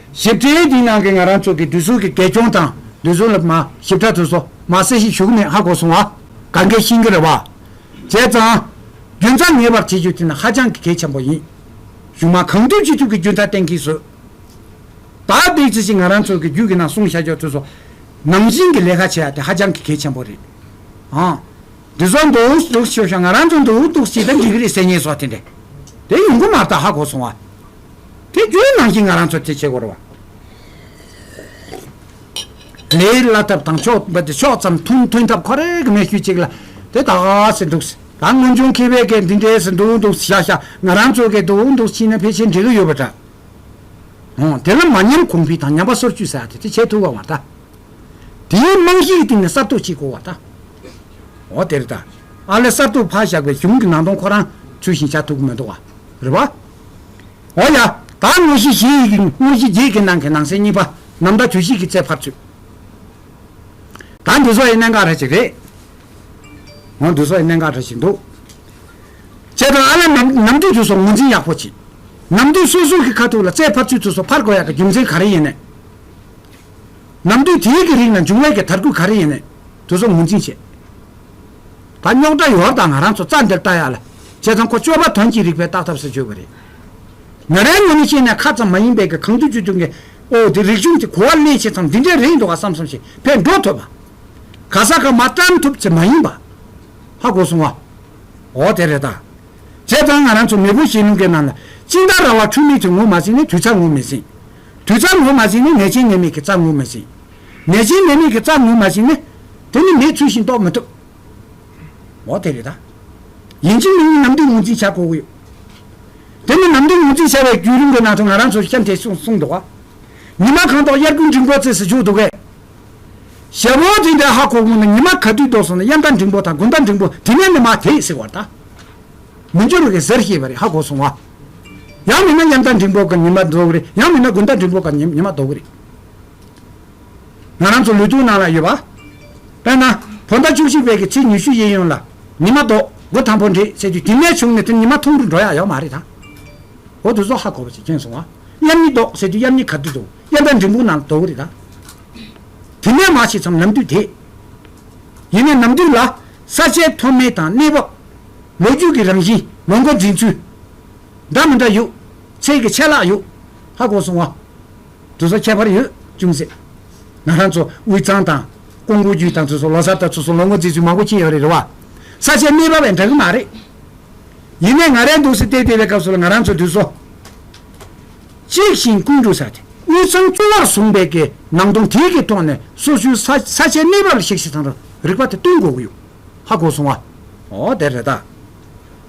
ཞིབ་ཕྲའི་དེའི་ནང་གི་ང་རང་ཚོ་གི་འདུས་སྲོལ་གི་རྒས་སྐྱོང་དང་འདུས་སྲོལ་ལ་མ་ཞིབ་ཕྲ་ཐོས་སོ་མ་གསལ་ཞིག་ཞུ་གི་མེད་ཧ་གོ་སོང་བ། ག་འགས་ཤིང་གི་རེད་བ། བྱས་ཙང། རྒྱུ་མཚང་ངེས་པར་བྱེད་རྒྱུ་དེ་ནི་ཧ་ཅང་གི་གལ་ཆེན་པོ་ཡིན། གཞུང་མ་གང་ཐུབ་ཅི་ཐུབ་ཀྱི་རྒྱུ་མཐའ་གཏན་འཁེལ་བཟོས། ད་འདེགས་ཅི་ཞིག་ང་རང་ཚོ་གི་རྒྱུད་ཀྱི་ནང་གསུང་བྱ་རྒྱུར་ཐོས་སོ། ནང་བཞིན་གྱི་ལས་ཀ་བྱེད་ཡ་དེ་ཧ་ཅང་གི་གལ་ཆེན་པོ་རེད། ཨང། འདུས་སྲོལ་འདུག་འདུག་ཤོད་ཤོད་ང་རང་ཚོ་འདུག་འདུག་ཅིག་ད་འགྲིག་གི་རེད་ཟེར་ངེས་སོ་དེ་འདྲས། དེ་ཡོང་གི་མ་རྟགས་ཧ་གོ་སོང་བ། དེ་རྒྱུན་ནང་བཞིན་ང་རང་ཚོ་དེ་བྱེད་དགོས་རེད། དེའི་བླ་ཐབས་དང་ཕྱོགས་འབད་དེ་ཕྱོགས་ཙམ་མཐོང་ཐོས་མཐའ་ཁོ་རེ་གི་མེད་ཤུལ་ཅིག་ལ་དེ་དག་ཟེར་འདུག་ད་སྔོན་བྱུང་མཁས་པའི་སྐད་འདི་འདྲས་ཟེར་འདུག་འདུག་བཞག་བཞག་ང་རང་ཚོའི་སྐད་འདུག་འདུག་ཕྱིན་ན་ཕལ་ཆེར་འགྲིག་གི་ཡོད་པ་འདྲ། འོང་དེ་ལ་མ་ཉམས་གོང་འཕེལ་དང་ཉམས་པ་སོར་བཅུ་ཟེར་བ་དེ་དེ་བྱེད་ཐུབ་དགོས་བ་ད། དེའི་རྨང་གཞིའི་སྟེང་ནས་གསར་གཏོད་བྱེད་དགོས་བ་ད། འོ་དེར་ད་ཨ་ལས་གསར་གཏོད་ཕར་བཞག་པའི་གཞུང་གི་ནང་དོན་ཁོ་རང་ཚུལ་བཞིན་བྱ་ཐུབ་ཀི་མི་འདུག་རེད་བ། འོ་ཡ། ད་དངོས་གཞི་བཞི་ཡི་གེ་དངོས་གཞི་བརྒྱད་ཀྱི་ནང་གི་ནང་གསེས་གཉིས་པ་ནམ་ཟླ་དུས་བཞི་གི་ཚེས་ཕར་ཚུད། ད་འདུས་སོ་ཡི་གནད་འགག་འདྲ་ཞིག་རེད། འོ་འདུས་སོ་ཡི་གནད་འགག་འདྲ་ཞིག་འདུག། བྱས་ཙང་ཨ་ལ་ནམ་དུས་དུས་སོགས་ངོས་འཛིན་ཡག་པོ་བྱེད། ནམ་དུས་སོ་སོ་གི་ཁ་ཐུག་ལ་ཚེས་ཕར་ཚུད་དུས་སོགས་ཕར་གོ་ཡག་གི་རྒྱུ་མཚན་ག་རེ་ཡིན་ནས། ནམ་དུས་དེའི་གི་རིགས་ལ་འབྱུང་བས་ཀྱི་དར་སྐུད་ག་རེ་ཡིན་ནས་དུས་སོགས་ངོས་འཛིན་བྱེད། ད་རྙོག་དྲ་ཡོར་དང་ང་རང་ཚོ་རྩ་འདིར་བལྟ་ཡག་ལ། བྱས་ཙང་ཁོ་སྤྱོད་པ་དོན་གྱིས་རིག་པའི་བརྟག་ཐབས་སུ་བརྗོད་པ་རེད། ཉོ་རའི་ངོ་ནས་བཤད་ནས་ཁ་ཙམ་མ་ཡིན་པའི་གི་གང་བསྡུས་བཅུ་བདུན་གི། ཨོ་དེ་རིག་གཞུང་དེ་གོ་བ་སླེ་བྱས་ཙང་འདི་འདྲའི་རེད་འདུག་ག་བསམ་བསམ་ཞིག་ཕེབས་འགྲོ་ཐུབ་བ། ག་ས་ག་མ་བཀྲམ་ཐུབ་ཚེ་མ་ཡིན་པ། ཧ་གོ་སོང་བ། ཨོ་དེ་རེད་ད། བྱས་ཙང་ང་རང་ཚོ་མེས་པོ་ཞེ་ལུང་གི་ནང་ལ་དཔྱིད་ཟླ་ར་བ་འཁྲུལ་མེད་དུ་ངོ་མ་ཟིན་ནས་དུས་ཚ་ངོ་མི་ཟིན། དུས་ཚ་ངོ་མ་ཟིན་ནས་ནད་ཆེན་ནད་མེད་ཀྱི་རྩ་ངོ་མི་ཟིན། ནད་ཅན་ནད་མེད་ཀྱི་རྩར་ངོས་མ་ཟིན་ན། དེ་ནི་མེད་ཚུལ་བཞིན་རྟོགས་མི་ཐུབ། འོ་དེ་རེད་ད། ཡིན་གཅིག་མིན་གཉིས་ནམ་དུས་ངོས་འཛིན་བྱ་དགོས་ཀྱི་ཡོད། དེ་ནི་ནམ་དུས་ངོས་འཛིན་བྱ་བའི་བརྒྱུད་རིམ་གྱི་ནང་དུ་ང་རང་ཚོར་གཤམ་དེ་གསུངས་འདུག་གོ། ཉི་མ་གང་དོག་དབྱར་དགུན་འབྲིང་པོ་བརྩེགས་སུ་བཞུགས་འདུག་གས། ཞལ་བོ་དེ་འདྲ་ཧ་གོ་གོ་ནས་ཉི་མ་ག་དུས་ལྡོག་སོང་ན་དབྱར་ཟླ་འབྲིང་པོ་དང་དགུན་ཟླ་འབྲིང་པོ་དེ་ནས་ནི་མ་དེས་ཟེར་བར་ད། མི་འགྱུར་གས་ཟེར་ཤེས་པ་རེད་ཧ་གོ་སོང་ཨ། ཡང་མིན་ན་དབྱར་ཟླ་འབྲིང་པོ་ག་ཉི་མ་ལྡོག་གི་རེད་ཡང་མིན་ན་དགུན་ཟླ་འབྲིང་པོ་ག་ཉི་མ་ལྡོག་གི་རེད། ང་རང་ཚོ་ལུས་སྟོང་ནང་ལ་ཡོད་པ། དཔེར་ན། བོད་ཟླ་བཅུ་གཅིག་པའི་གི་ཚེས་ཉི་ཤུ་གཡས་གཡོན་ལ། ཉི་མ་ལྡོག་སྒོ་དང་པོ་འདྲེས་ཟེར་དུས་དེ་ནས་བྱུང་ནས་དེར་ཉི་མ་ཐུང་རུ་འགྲོ་ཡག་ཡོད་མ་རེད་དམ། འོ་དུས་སོ་ཧ་གོ་བ་ཞིག་ཁེངས་སོང་ང། གཡམ་ཉི་ལྡོག་ཟེར་དུས་གཡམ་ཉི་ག་དུས་ལྡོག་གཡམ་པའི་འབྲིང་སྤུངས་ནང་ལ་ལྡོག་གི་རེད་ད། དེ་ནས་མ་ཕྱེད་ཙམ་ནམ་དུས་དེད། ཡིན་ནའི་ནམ་དུས་ལ། ས་ཆའི་མཐོ་དམན་དང་གནས་བབ། ལོ་རྒྱུས་ཀྱི་རང་བཞིན་ལོ་འགོ་འཛིན་ཚུལ། འདྲ་མི་འདྲ་ཡོད། ཚད་ཀྱི་ཆད་ལྷག་ཡོད་ཧ་གོ་སོང་ང། ཚོ་ཁྱད་པར་ཡོད་ཅུང་ཟད། ང་རང་ཚོ་དབུས་གཙང་དང། ཀོང་པོ་རྒྱུད་དང་ཚོ་ཚོ་ལོ་གསར་དང་ཚོ་ཚོ་ལོ་ངོ་རྫིག་རྫིག་མང་པོ་ཁྱེད་ཡོད་རེད་རེད་བ། ས་ཆའི་གནས་བབ་བས་འདྲ་གི་མ་རེད། ཡིན་ནས་ང་རའི་འདུག་སའི་སྟེགས་དེ་བའི་སྐབས་སུ་ལ་ང་རང་ཚོ་དུས་ཚོ་གཅིག་ཞིང་ཀུན་འདུག་ས་དེ་དབུས་གཙང་གཙོ་བོར་བཟུང་བའི་གི་ནང་སྟོང་དེའི་གི་ཐོག་ནས་སོ་སོའི་ས་ས་ཆའི་གནས་བབ་ལ་གཤེགས་གཤེགས་ཚང་ར་རིག་པ་དེ་སྟོན་དགོས་གི་ཡོད་ཧ་གོ་སོང་བ། འོ་དེ་རེད་ད།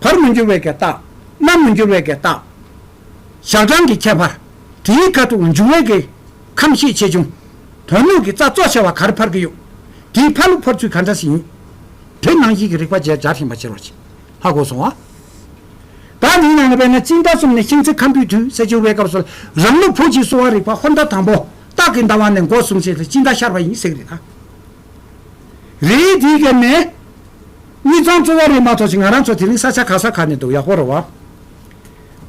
བར་མི་འགྱུར་བའི་གེ་རྟགས། རྣམ་མི་འགྱུར་བའི་གེ་རྟགས། ཞག་གྲངས་ཀྱི་ཁྱད་པར། དེའི་མཁའ་ཐུག་འབྱུང་བའི་གེ། ཁམས་ཤེས་ཆེ་ཆུང། དོན་སྣོད་ཀྱི་རྩ་གཙོ་ཆེ་བ་གར་འཕར་གྱི་ཡུག། དེའི་འཕར་ལུགས་འཕར་ཚུལ་ག་འདྲ་ཞིག་ཡིན། དེ་ནང་བཞིན་གྱི་རིག་པ་རྗེས་སྦྱར་ཞིང་པ་བྱེར་བ་བྱེད། ལྷ་སྒོ་སྲུང་བ། དག་ནི་ནང་ནས་བས་ན་རྩིས་མཐའ་གསུམ་ནས་ཤིང་ཚིག་ཁམ་བུའི་དུས་ཟད་འགྱུར་བའི་སྐབས་སུ་རང་ལུགས་བུ་གཅིག་གསོ་བ་རིག་པ་ཧོར་ཟླ་དང་པོ། སྟག་གི་ཟླ་བ་ནས་སྒོ་སྲུང་བྱེད་དུ་དཔྱིད་ཟླ་ཤར་བ་ཡིན་གསེག་རི་དང། རིའི་དུས་གེགས་ནས། མྱི་ཚང་གཙོ་བོ་རེད་མ་ཐོག་ཅིག་ང་རང་ཚོ་དེ་རིང་ས་ཆ་ག་ས་ག་ནས་འདུག་ཡག་པོ་རེད་བ།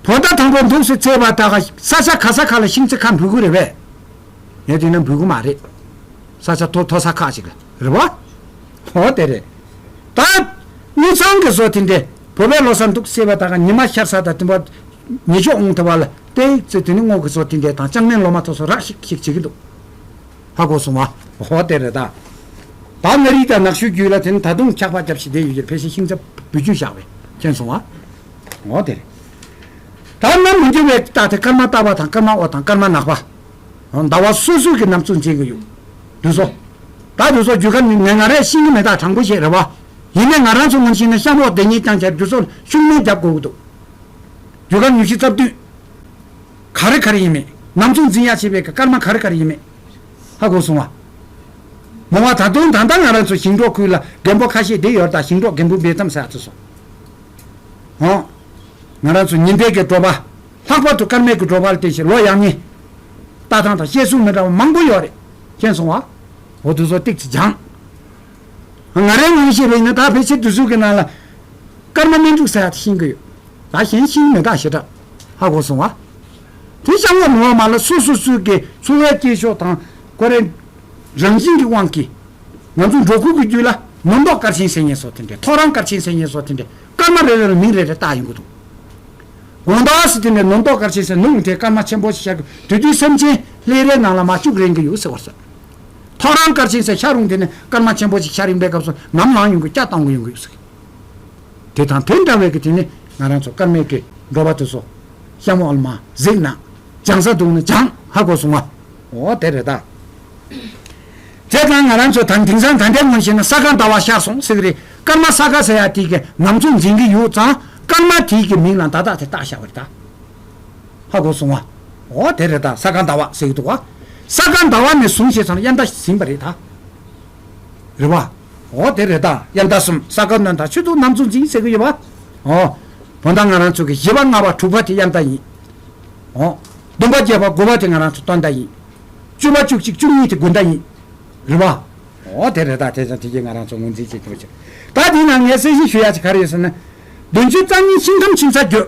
བོ་ད་དང་པོ་འདུག་སེ་ཚེ་བ་ད་ག་ས་ཆ་ག་ས་ག་ལ་ཤིང་ཚེ་ཁ་འབུད་གུ་རེད་བས། ངས་དེ་ན་འབུད་གུ་མ་རེད། ས་ཆ་ཐོ་ཐོ་ས་ཁ་ཅིག་རེད་བ། ཨོ་དེ་རེད། ད། མྱི་ཚང་གི་བཟོ་དེ་འདྲས་བོ་བས་ལོ་སར་འདུག་སེ་བ་ད་ག་མྱི་མ་ཤར་ས་ད་དེ་བ། མྱི་ཆོག་འོང་ཐེ་བ་ལ་ཏེ་ཚེ་དེ་ནས་སྔོག་གི་བཟོ་དེ་འདྲས་དང་ལྕང་ནན་ལོ་མ་ཐོ་སོ་རག་ཤིག་ཤིག་བྱེད་གི་འདུག། ཧ་གོ་སོང་བ། ཧོ་དེ་རེད་ད། བ་མངའ་རིས་དང་ནགས་ཤོད་རྒྱུད་ལ་དེ་ད་དུང་འཁྱག་པ་རྒྱབ་བྱེད་དེ་ཡོད་རྒྱུར་ཕལ་ཆེར་ཤིང་ཚ་བུ་རྒྱུད་བཞག་པས་མཁྱེན་སོང་བ། ཧོ་དེ་རེད་ད། གནམ་མི་འགྱུར་བའི་རྟགས་དེ་སྐར་མ་སྟག་པ་དང་སྐར་མ་ཨོ་དང་སྐར་མ་ནག་པ། ཟླ་བ་སོ་སོ་གི་ནམ་ཚོད་འཛིན་གི་ཡོད། དུས་སོ། ད་དུས་སོ་རྒྱུ་སྐར་ནི་ནས་ང་རས་ཤིང་གི་མེ་སྟག་དྲང་པོ་ཞིག་རེད་བ། ཡིན་ནས་ང་རང་ཚོ་ངོམ་ཤིང་ནས་གཤམ་འོག་བདེ་ཉིད་རྐྱང་ཁྱེར་རྒྱུ་སོགས་ལ་ཤུགས་སྣོན་རྒྱབ་དགོས་ཀི་འདུག་རྒྱུ་སྐར་ཉུལ་ཤིང་རྩབ་དུས། ག་རེ་ག་རེ་ཡིན་མེད། ནམ་མཚུངས་འཛིན་ཡ་བྱེད་པའི་སྐར་མ་ག་རེ་ག་རེ་ཡིན་མེད། ཧ་གོ་སོང་བ། མོ་བ་ད་དུང་ད་ལྟ་ང་རང་ཚོ་ཞིང་འབྲོག་ཁུལ་ལ་རྒན་པོ་ཁ་ཤས་བསྡད་ཡོད་ད་ཞིང་འབྲོག་རྒན་པོའི་འབེལ་གཏམ་ཟེར་ཡ་ཚོད་སོང། ཧོ། ང་རང་ཚོ་ཉིན་བརྒྱད་ཀྱི་འབྲོག་པ། ལྷག་པར་དུ་སྐར་མའི་གི་འབྲོག་པ་ལ་དེ་བཞིན་ལོ་ཡག་ཉིན། ལྟ་སྟངས་དང་བཤད་སྲོལ་མི་འདྲ་བ་མང་པོ་ཡོད་རེད། མཁྱེན་སོང་བ། འོ་དུ་བཟོ་སྟེགས་ཀྱི་སྦྱངས། ང་རའི་དངོས་གཞི་རིགས་ནི་ད་ཕལ་ཆེར་དུས་ཚོད་ཀྱི་ནང་ལ་སྐར་མ་སྨིན་དྲུག་ས་ཡ་དེ་ཤིང་གི་ཡོད། ད་གཞན་ཤིང་མེ་སྟག་ཞེ་དྲག་ཧ་གོ་སོང་བ། དེ་ཤ་བོ་ནོར་བ་མ་ལ་སོ་སོ་སོའི་གི་འཚོ་བའི་སྐྱེས་ཤོག་དང་ཀོ་རེ་རང་བཞིན་གྱི་དབང་གིས། ང་ཚོ་འབྲོག་ཁུལ་གྱི་རྒྱུད་ལ་མུ་མདོག་སྐར་ཆེན་ཟེར་ཉེན་སོགས་དེ་འདྲའི་ཐོ་རངས་སྐར་ཆེན་ཟེར་ཉེན་སོགས་དེ་འདྲའི་སྐར་མ་རེ་རེ་ལ་མིང་རེ་རེ་བཏགས་ཡོང་གི་འདུག་གོང་དག་སུ་དེ་འདྲའི་ནུབ་མདོག་སྐར་ཆེན་ཟེར་ནུབ་ཡིན་དེ་སྐར་མ་ཆེན་པོ་ཞིག་ཤར་གི་དུས་དུས་སེམས་ཅན་ལྷའི་རའི་ནང་ལ་མ་བཅུག་རན་གི་ཡོད་ཟེར་བ་སོགས། ཐོ་རངས་སྐར་ཆེན་སའི་ཤར་རོང་དེ་ནས་སྐར་མ་ཆེན་པོ་ཞིག་ཤར་ཡིན་པའི་སྐབས་སུ་ནམ་ལངས་ཡོང་དགོས་སྐྱ་བཏང་གི་ཡོང་དགོས་ཟེར། དེ་དང་དེ་འདྲ་བའི་གི་དེ་ནི་ང་རང་ཚོ་སྐར་མའི་གི་འགྲོ་བ་དེ་ཚོ། ཤ་མོ་ཨལ་མ། གཟིག་ན། འཇང་ས་དུང་ན་འཇང། ཧ་གོ་སུང་བ། འོ་དེ་རེད་ད། དེ་དང་ང་རང་ཚོ་ད་དིང་སང་ད་འདྲའི་ངོ་ཤེས་ན་ས་ག་ཟླ་བ་ཤར་སོང་ཟིག་རེད་སྐར་མ་ས་ག་ཟེར་ཡ་དེའི་གི་ནམ་ཚོ་འཛིན་གི་ཡོད་ཙང་སྐར་མ་དེའི་གི་མིང་ལ་མདའ་དག་དེ་བཏགས་ཤ་བ་རེད་ད། ཧ་གོ་སོང་བ། འོ་དེ་རེད་ད་ས་ག་ཟླ་བ་ཟེར་གྱི་འདུག་བ། ས་ག་ཟླ་བ་ནས་བཟུང་ཞེས་ཙང་དབྱར་ཟླ་ཟིན་པ་རེད་ད། རེད་བ། འོ་དེ་རེད་ད་དབྱར་ཟླ་གསུམ་ས་ག་སྣོན་ད་ཆུ་དུག་ནམ་ཚུགས་འཛིན་ཟེར་གྱི་ཡོད་བ། འོ། བོ་ད་ང་རང་ཚོ་གི་བཞི་བ་ལྔ་བ་དྲུག་བ་དེ་དབྱར་ཟླ་ཡིན། འོ། བདུན་པ་བརྒྱད་པ་དགུ་བ་དེ་ང་རང་ཚོ་སྟོན་ཟླ་ཡིན། བཅུ་བ་བཅུ་གཅིག་བཅུ་གཉིས་དེ་དགུན་ཟླ་ཡིན། རེད་བ། འོ་དེ་རེད་ད་དེ་ཙང་དེ་གྱིས་ང་རང་ཚོ་ངོས་འཛིན་བྱེད་ཀྱི་རེད། ད་དེའི་ནང་ངས་གསལ་བཤད་ཞུ་ཡག་ཅིག་ག་རེད་ཟེར་ན། བདུན་ཅུ་རྩ་གཉིས་ཕྱི་ཁམས་ཕྱི་མཚར་བརྒྱུད།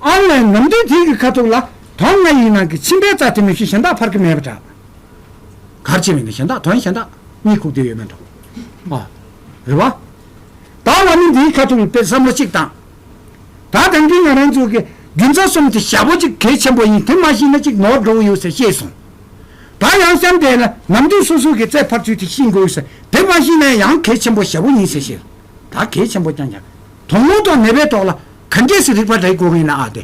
ཨ་མའི་ནམ་ཟླའི་དུས་ཀྱི་ཁ་ཐུག་ལ་དོན་ལྔ་ཡི་ནང་གི་ཕྱི་འབད་རྩ་དེ་མི་ཤེས་གཞན་དག་ཕར་གི་མེད་པ་འདྲ། གར་བྱེད་མི་འདུག་གཞན་དག་དོན་གཞན་དག་གཉིད་ཁུག་བསྡད་ཡོད་མེད་འདྲ། ཨ་རེད་བ། ད་ང་ནི་འདིའི་ཁ་ཐུག་ལ་དཔེར་བསམ་བློ་གཅིག་བཏང། ད་དེང་དུས་ང་རང་ཚོ་གི་རྒྱུ་མཚན་གསུམ་དེ་ཞྭ་ཕོ་གཅིག་གལ་ཆེན་པོ་ཡིན་དེ་མ་ཤེས་ན་གཅིག་ནོར་འགྲོ་གི་ཡོད་ཟེར་ཤེས་སོང། ད་ཡང་བསམ་བསྡད་ན་ནམ་དུས་སོ་སོ་གི་རྩེ་ཕར་ཚུལ་དེ་ཤེས་དགོས་ཟེར་དེ་མ་ཤེས་ན་ཡང་གལ་ཆེན་པོ་ཞྭ་ཕོ་ཡིན་ཟེར་ཤེས། ད་གལ་ཆེན་པོ་རྐྱང་རྐྱང། དོགས་སློང་དང་ནད་པའི་ཐོག་ལ་ག་འདྲས་སུ་རིག་པ་འདྲ་ཡི་གོ་ངེས་ན་ཨ་དེ་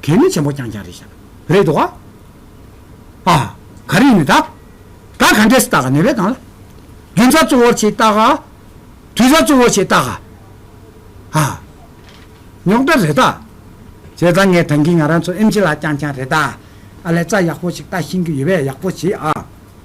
གལ་གནད་ཆེན་པོ་རྐྱང་རྐྱང་རེད་ཤག་རེད་དོ། ཨ་ག་རེ་ཡིན་ནི་ད་ད་ག་འདྲས་སུ་བལྟ་ག་ནད་པའི་སྟངས་ལ་རྒྱུན་ཚ་གཙོ་བོར་བྱེད་བལྟ་ག་དུས་ཚ་གཙོ་བོར་བྱེད་བལྟ་ག་ཨ་རྙོག་དྲ་རེད་ད། བྱས་ཙང་ངས་ད་གིན་ང་རང་ཚོ་ཨེམ་ཆི་ལ་རྐྱང་རྐྱང་རེད་ད་ཨ་ལས་རྩ་ཡག་པོ་ཞིག་བལྟ་ཤེས་ཀྱི་ཡོད་པས་ཡག་པོ་བྱེད་ཨ།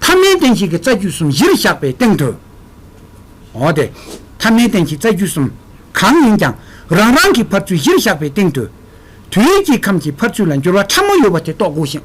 ཐ་མའི་རྟེན་བཞི་གི་རྩ་རྒྱུད་གསུམ་བཞིར་བཞག་པའི་སྟེང་དུ། འོ་དེ། ཐ་མའི་རྟེན་བཞི་རྩ་རྒྱུད་གསུམ། གང་ཡིན་ཀྱང། རང་རང་གི་འཕར་ཚུལ་བཞིར་བཞག་པའི་སྟེང་དུ། དུས་ཀྱི་ཁམས་ཀྱི་འཕར་ཚུལ་ལ་འགྱུར་བ་ཕྲ་མོ་ཡོད་པ་དེ་རྟོགས་དགོས་ཤིང།